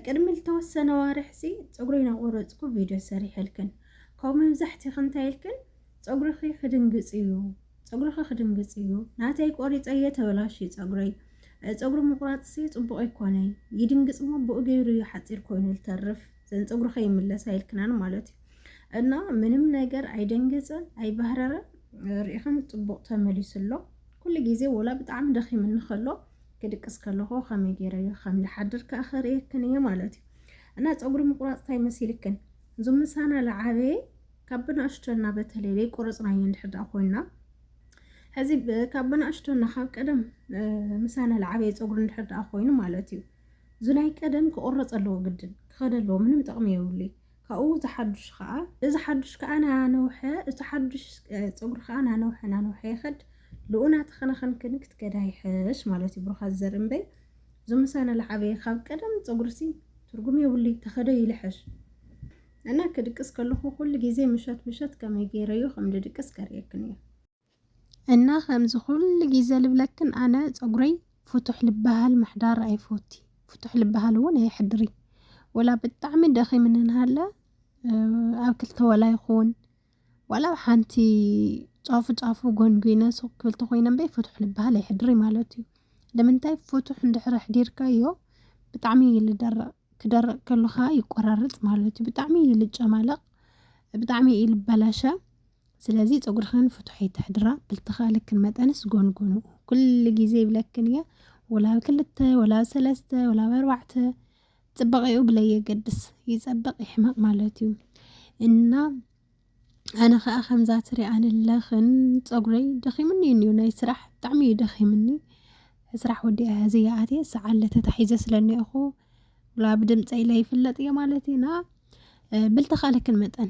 ቅድሚ ዝተወሰነ ዋርሕሲ ፀጉሪ ናቆረፅኩ ቪድዮ ሰሪሐልክን ካብ መብዛሕትኺ እንታይ ኢልክን ፀጉርኺ ክድንግፅ እዩ ፀጉርኺ ክድንግፅ እዩ ናተይ ቆሪፀ እየ ተበላሽ ፀጉረይ ፀጉሪ ምቁራፅሲ ፅቡቅ ኣይኮነይ ይድንግፅ እሞ ብኡ ገይሩ እዩ ሓፂር ኮይኑ ዝተርፍ ዘን ፀጉርኺ ይምለስ ኣይልክናን ማለት እዩ እና ምንም ነገር ኣይደንግፅን ኣይባህረርን ርኢኽን ፅቡቅ ተመሊሱ ኣሎ ኩሉ ግዜ ወላ ብጣዕሚ ደኺምኒ ከሎ ክድቅስ ከለኹ ከመይ ገይረ እየ ከም ዝሓድር ከኣ ከርእየክን እየ ማለት እዩ እና ፀጉሪ ምቁራፅ እንታይ መሲልክን እዞም ምሳና ዝዓበየ ካብ ብናእሽቶ እና በተለይ ዘይቆረፅናዮ እንድሕር ደኣ ኮይና ሕዚ ካብ ብናእሽቶ እና ካብ ቀደም ምሳና ዝዓበየ ፀጉሪ እንድሕር ደኣ ኮይኑ ማለት እዩ እዚ ናይ ቀደም ክቁረፅ ኣለዎ ግድን ክኸደ ኣለዎ ምንም ጥቕሚ የብሉይ ካብኡ እዚ ሓዱሽ ከኣ እዚ ሓዱሽ ከኣ ናነውሐ እቲ ሓዱሽ ፀጉሪ ከኣ ናነውሐ ናነውሐ ይኸድ ልኡ ናተኸናኸንክን ክትከዳ ይሐሽ ማለት እዩ ብሩኻት ዘርኢ እምበይ እዞም ምሳና ልዓበየ ካብ ቀደም ፀጉርሲ ትርጉም የብሉይ ተኸዶ ይልሐሽ እና ክድቅስ ከለኹ ኩሉ ግዜ ምሸት ምሸት ከመይ ገይረዮ ከም ድድቅስ ከርእየክን እየ። እና ከምዚ ኩሉ ግዜ ልብለክን ኣነ ፀጉረይ ፍቱሕ ልበሃል ምሕዳር ኣይፎቲ ፍቱሕ ልበሃል እውን ኣየሕድሪ ወላ ብጣዕሚ ደኺምኒ እንሃለ ኣብ ክልተ ወላ ይኹን ዋላ ኣብ ሓንቲ ጫፉ ጫፉ ጎንጒነ ሱቅ ክብል ተኾይነ እምበይ ፍቱሕ ልበሃል ኣይሕድሪ ማለት እዩ ንምንታይ ፍቱሕ እንድሕር ኣሕዲርካዮ ብጣዕሚ እዩ ልደርቅ ክደርቅ ከሎ ከዓ ይቆራረፅ ማለት እዩ ብጣዕሚ እዩ ልጨማለቅ ብጣዕሚ እዩ ልበላሸ ስለዚ ጸጉርኽን ፍቱሕ ኣይተሕድራ ብልተኻለክን መጠንስ ጎንጎንኡ ኩሉ ግዜ ይብለክን እየ ወላ ኣብ ክልተ ወላ ኣብ ሰለስተ ወላ ኣብ ኣርባዕተ ጽባቐኡ ብለየገድስ ይጸብቕ ይሕመቕ ማለት እዩ እና ኣነ ከዓ ከምዛ ትሪኣንለኽን ፀጉረይ ደኺምኒ እዩ እኒኦ ናይ ስራሕ ብጣዕሚ እዩ ደኺምኒ ስራሕ ወዲ ኣያዘያ ኣትየ ሰዓለ ተታሒዘ ስለኒኦኹ ብድምፀይ ለይፍለጥ እየ ማለት ኢና ብልተኻለክን መጠን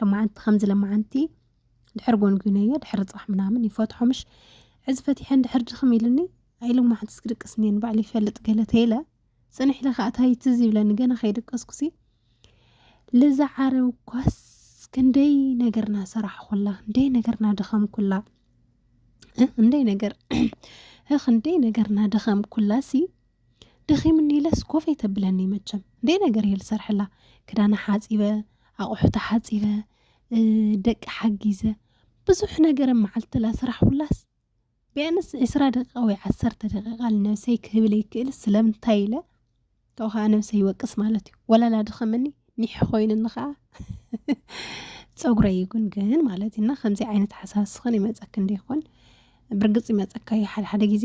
ለማዓንቲ ከምዚ ለማዓንቲ ድሕር ጎንጉነዮ ድሕሪ ፅባሕ ምናምን ይፈትሖ ምሽ ሕዚ ፈቲሐ እንድሕር ድኽም ኢልኒ ኣይ ለማዓንትስ ክድቅስ እኒየ ንባዕሉ ይፈልጥ ገለ ተይለ ፅንሕ ኢለ ከዓ ታይ ትዝ ይብለኒ ገና ከይደቀስኩሲ ልዛ ዓረብ እኳስ ክንደይ ነገርና ሰራሕኩላ ክንደይ ነገርና ደኸምኩላ እንደይ ነገር ህኽ እንደይ ነገርና ደኸምኩላ ሲ ደኺሙኒ ኢለስ ኮፍ ኣይተብለኒ መቸም ደይ ነገር እየ ዝሰርሐላ ክዳና ሓፂበ ኣቑሑታ ሓፂበ ደቂ ሓጊዘ ብዙሕ ነገር መዓልትላ ስራሕ ሁላስ ቢያንስ ዕስራ ደቂቃ ወይ ዓሰርተ ደቂቃ ንነብሰይ ክህብል ይክእል ስለምንታይ ኢለ ካብኡ ከዓ ነብሰይ ይወቅስ ማለት እዩ ወላላ ድኸመኒ ኒሕ ኮይኑኒ ከዓ ፀጉረይ ይጉንግን ማለት እዩ እና ከምዚ ዓይነት ሓሳብ ስኽን ይመፀክ እንዲይኮን ብርግፅ ይመፀካ እዩ ሓደሓደ ግዜ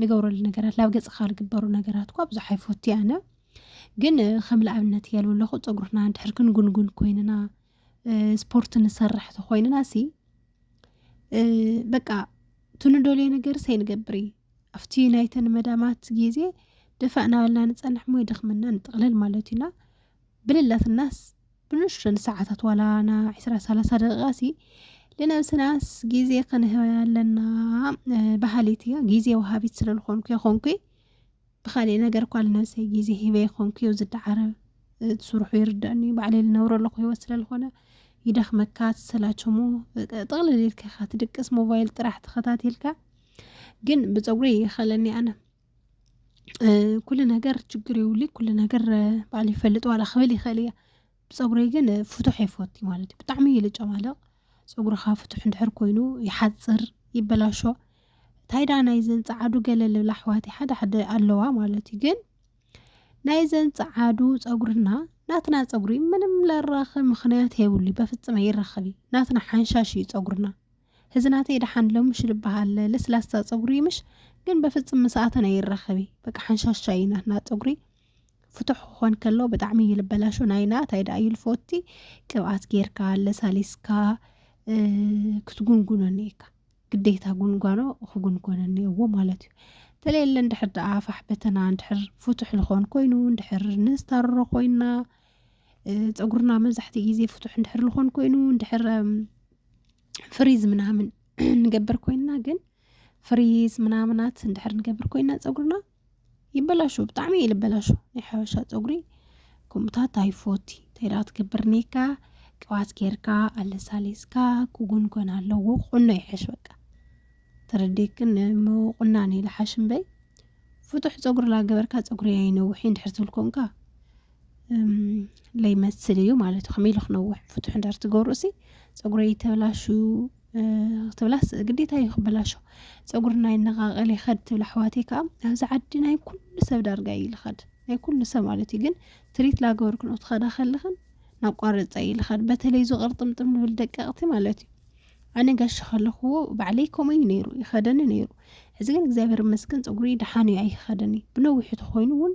ንገብረሉ ነገራት ናብ ገጽካ ዝግበሩ ነገራት እኳ ብዙሕ ኣይፈቱ ኣነ ግን ከም ንኣብነት እያልዎ ኣለኹ ፀጉርና እንድሕር ክንጉንጉን ኮይንና ስፖርት ንሰርሕ ተኮይንና ሲ በቃ ትንደልዮ ነገር ሰይንገብር እዩ ኣብቲ ናይተን መዳማት ግዜ ደፋእ ናበልና ንፀንሕ ሞ ይደኽመና ንጥቕልል ማለት እዩና ብልላትናስ ብንእሽቶን ሰዓታት ዋላ ን ዕስራ ሰላሳ ደቂቃ ሲ ልነብስናስ ግዜ ክንህባ ኣለና በሃሊት እየ ግዜ ወሃቢት ስለ ልኮንኩ የኮንኩ ብካሊእ ነገር እኳ ልነብሰይ ግዜ ሂበ የኮንኩ ዩ ዝደዓረ ትስርሑ ይርደኣኒ ዩ ባዕለይ ልነብሮ ኣለኩ ሂወት ስለ ልኮነ ይደክመካ ትሰላቸሙ ጥቅልል ኢልካ ኢካ ትድቅስ ሞባይል ጥራሕ ተከታቲልካ ግን ብፀጉረይ ይከለኒ ኣነ ኩሉ ነገር ችግር የብሉይ ኩሉ ነገር ባዕሉ ይፈልጥ ዋላ ክብል ይኽእል እየ ፀጉረይ ግን ፍቱሕ ኣይፈቱ ማለት እዩ ብጣዕሚ እዩ ልጨማለቕ ፀጉርኻ ፍቱሕ እንድሕር ኮይኑ ይሓፅር ይበላሾ ታይ ዳኣ ናይዘን ፀዓዱ ገለ ልብላ ኣሕዋተይ ሓደ ሓደ ኣለዋ ማለት እዩ ግን ናይዘን ፀዓዱ ፀጉርና ናትና ፀጉሪ ምንም ለራኽብ ምኽንያት የብሉይ በፍፅም ኣይራኸብይ ናትና ሓንሻሽ እዩ ፀጉርና። እዚ ናተይ ደሓን ሎሚ ሽልበሃለ ለስላሳ ፀጉሪ ምሽ ግን በፍፅም ምሳኣተን ኣይራኸቢ በቃ ሓንሻሻ እዩ ናትና ፀጉሪ ፍቱሕ ክኾን ከሎ ብጣዕሚ እዩ ልበላሾ ናይና እንታይ ደኣ እዩ ልፎቲ ቅብኣት ጌርካ ለሳሊስካ ክትጉንጉኖ እኒኤካ ግዴታ ጉንጓኖ ክጉንጎነ እኒኤዎ ማለት እዩ ተለየለ እንድሕር ደኣ ፋሕ በተና እንድሕር ፍቱሕ ልኾን ኮይኑ እንድሕር ንዝታርሮ ኮይና ፀጉርና መብዛሕትኡ ግዜ ፍቱሕ እንድሕር ዝኾን ኮይኑ እንድሕር ፍሪዝ ምናምን ንገብር ኮይንና ግን ፍሪዝ ምናምናት እንድሕር ንገብር ኮይንና ፀጉርና ይበላሾ ብጣዕሚ እዩ ልበላሾ ናይ ሓበሻ ፀጉሪ ከምኡታት ኣይፎቲ ተይዳ ትገብር ኔካ ቅብኣት ጌርካ ኣለሳሊስካ ክጉን ኮን ኣለዎ ቁኖ ይሐሽ በቃ ተረዲክን ምቁናን እዩ ልሓሽ እምበይ ፍጡሕ ፀጉሪ ላገበርካ ፀጉሪ ኣይነውሒ እንድሕር ትብል ኮንካ ለይመስል እዩ ማለት ከመይ ኢሉ ክነውሕ ፍቱሕ እንዳር ትገብሩ ሲ ፀጉረ ይተብላሹ ክትብላ ግዴታ እዩ ክበላሾ ፀጉሪ ናይ ነቃቀል ይኸድ ትብል ኣሕዋተይ ከዓ ኣብዚ ዓዲ ናይ ኩሉ ሰብ ዳርጋ እዩ ልኸድ ናይ ኩሉ ሰብ ማለት እዩ ግን ትሪት ላገበርክን ክትኸዳ ከለኽን ናቋረፃ እዩ ልኸድ በተለይ እዚ ቅርጥምጥም ንብል ደቀቕቲ ማለት እዩ ኣነ ጋሽ ከለኽዎ ባዕለይ ከምኡ እዩ ነይሩ ይኸደኒ ነይሩ ሕዚ ግን እግዚኣብሔር መስገን ፀጉሪ ደሓን እዩ ኣይኸደኒ ብነዊሑ ተኮይኑ እውን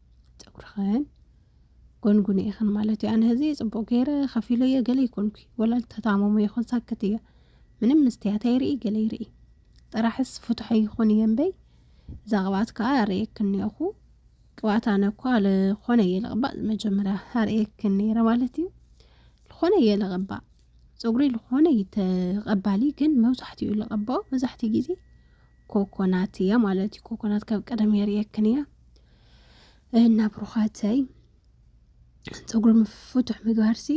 ፀጉርኽን ጎንጉን ኢኽን ማለት እዩ ኣነ ህዚ ፅቡቅ ገይረ ከፊሎ እየ ገለ ይኮንኩ ወላ ተታመሙ ይኹን ሳክት እየ ምንም ምስትያት ኣይርኢ ገለ ይርኢ ጥራሕስ ፍትሖ ይኹን እየ እምበይ እዛ ቅብኣት ከዓ ኣርእየክን እኒኹ ቅብኣት ኣነ እኳ ልኾነ እየ ልቕባእ መጀመርያ ኣርእየክን ነይረ ማለት እዩ ልኾነ እየ ልቕባእ ፀጉሪ ልኾነ ይተቐባሊ ግን መብዛሕትኡ ልቐባኦ መብዛሕትኡ ግዜ ኮኮናት እያ ማለት እዩ ኮኮናት ካብ ቀደም የርእየክን እያ እና ብሩኻተይ ፀጉሪ ምፍቱሕ ምግባርሲ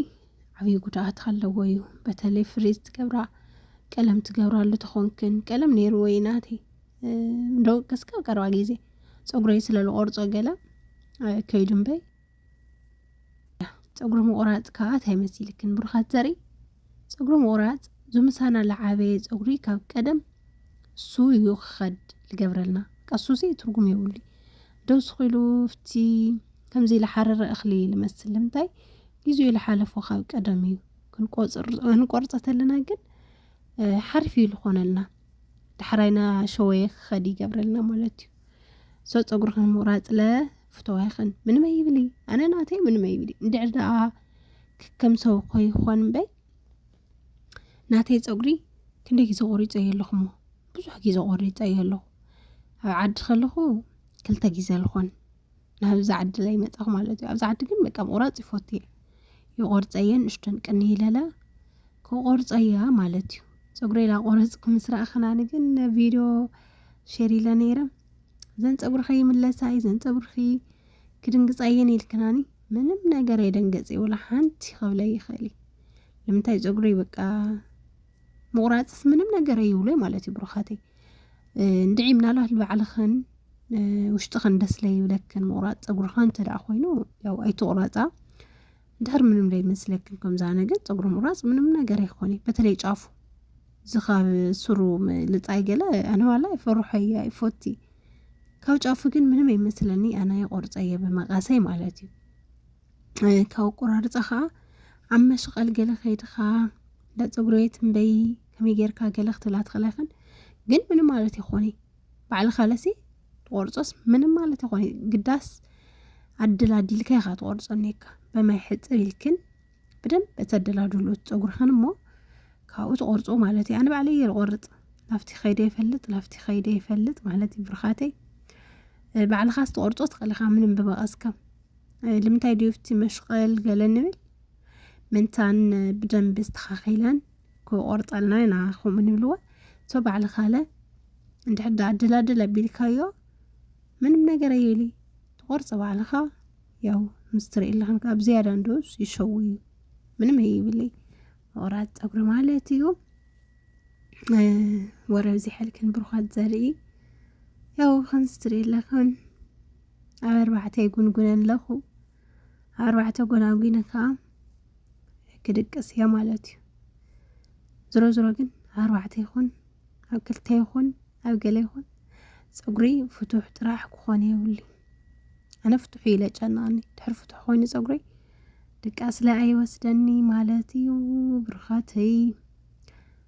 ዓብዪ ጉድኣት ኣለዎ እዩ በተለይ ፍሪዝ ትገብራ ቀለም ትገብራሉ ተኾንክን ቀለም ነይሩ ወይ ናቲ እንደው እስከ ቀረባ ግዜ ፀጉረይ ስለዝቆርፆ ገለ ከይዱ እምበይ ፀጉሪ ምቑራፅ ከዓ እንታይ መሲልክን ብሩኻት ዘርኢ ፀጉሪ ምቑራፅ ዝምሳና ለዓበየ ፀጉሪ ካብ ቀደም እሱ እዩ ክኸድ ልገብረልና ቀሱሲ ትርጉም የብሉ ደውስኹ ኢሉ ፍቲ ከምዚ ልሓረረ እኽሊ ልመስል ልምንታይ ግዜኡ ልሓለፎ ካብ ቀደም እዩ ክንቆርፀ ተለና ግን ሓሪፍ እዩ ልኾነልና ዳሕራይና ሸወየ ክኸድ ይገብረልና ማለት እዩ ሰው ፀጉርኽን ምቑራፅለ ፍተዋይኽን ምንም ኣይብሊ ኣነ ናተይ ምንም ኣይብሊ እንድዕር ደኣ ከም ሰው ኮይኾን እምበይ ናተይ ፀጉሪ ክንደይ ግዜ ቆሪፀ እየ ኣለኹሞ ብዙሕ ግዜ ቆሪፀ እየ ኣለኹ ኣብ ዓዲ ከለኹ ክልተ ግዜ ልኾን ናብዛ ዓዲ ላይ መፃኹ ማለት እዩ ኣብዛ ዓዲ ግን በቃ ምቑራፅ ይፈቱ እየ ይቆርፀ እየ ንእሽተን ቅኒ ይለላ ክቆርፀ እያ ማለት እዩ ፀጉረይ ላቆረፅኩ ምስ ረኣኽናኒ ግን ቪድዮ ሸር ኢለ ነይረ ዘን ፀጉርኺ ይምለሳ እዩ ዘን ፀጉርኺ ክድንግፃ እየን ኢልክናኒ ምንም ነገር ኣይደንገፅ ወላ ሓንቲ ክብለ ይኽእል እዩ ንምንታይ ፀጉሪ በቃ ምቑራፅስ ምንም ነገር ኣይብሎ ማለት እዩ ብሩኻተይ እንድዒ ምናልባት ንባዕልኽን ውሽጥኽን ደስ ለይብለክን ምቑራፅ ፀጉርኻ እንተ ኮይኑ ያው ኣይትቑረፃ ድሕር ምንም ዘይመስለክን ከምዛ ነገር ፀጉሪ ምቁራፅ ምንም ነገር ኣይኮነ በተለይ ጫፉ ዝኻብ ስሩ ልፃይ ገለ ኣነዋላ ይፈርሖ እየ ይፎቲ ካብ ጫፉ ግን ምንም ኣይመስለኒ ኣነ ይቆርፀ እየ ብመቃሰይ ማለት እዩ ካብ ቆራርፃ ከዓ ኣብ መሽቐል ገለ ከይድኻ እንዳ ፀጉሪ ቤት እምበይ ከመይ ጌርካ ገለ ክትብላ ትኽእላ ግን ምንም ማለት ይኾነ ባዕልኻ ለሲ ትቆርፆስ ምንም ማለት ይኮነ ግዳስ ኣድል ኣዲልካ ኢኻ ትቆርፆ እኒካ በማይ ሕፅር ኢልክን ብደንብ እተደላድሎ ፀጉርኽን እሞ ካብኡ ትቆርፆ ማለት እዩ ኣነ ባዕለይ እየ ዝቆርፅ ናብቲ ከይደ ይፈልጥ ናብቲ ከይደ ይፈልጥ ማለት እዩ ብርኻተይ ባዕልኻ ዝተቆርፆ ትኽእልኻ ምንም ብመቐስካ ልምንታይ ድዩ እቲ መሽቐል ገለ ንብል ምንታን ብደንብ ዝተኻኺለን ክቆርጸልና ኢና ከምኡ ንብልዎ ሶ ባዕሊ ካለ እንድሕር ዳኣ ኣደላድል ኣቢልካዮ ምንም ነገር ኣይብሊ ትቆርጾ ባዕልኻ ያው ምስ ትርእየለኽን ካብ ዝያዳ እንዶስ ይሸው እዩ ምንም ኣይብለይ ምቑራፅ ፀጉሪ ማለት እዩ ወረብ ዚሐልክን ብሩኻት ዘርኢ ያው ከምዚ ትርእየለኽን ኣብ ኣርባዕተ ይጉንጉነን ኣለኹ ኣርባዕተ ጎናጒኒ ከዓ ክድቅስ እየ ማለት እዩ ዝሮ ዝሮ ግን ኣርባዕተ ይኹን ኣብ ክልተ ይኹን ኣብ ገለ ይኹን ፀጉሪ ፍቱሕ ጥራሕ ክኾነ የብሉ ኣነ ፍቱሕ ኢለ ጨናኒ ድሕር ፍቱሕ ኮይኑ ፀጉረይ ድቃስ ላይ ኣይወስደኒ ማለት እዩ ብርኻተይ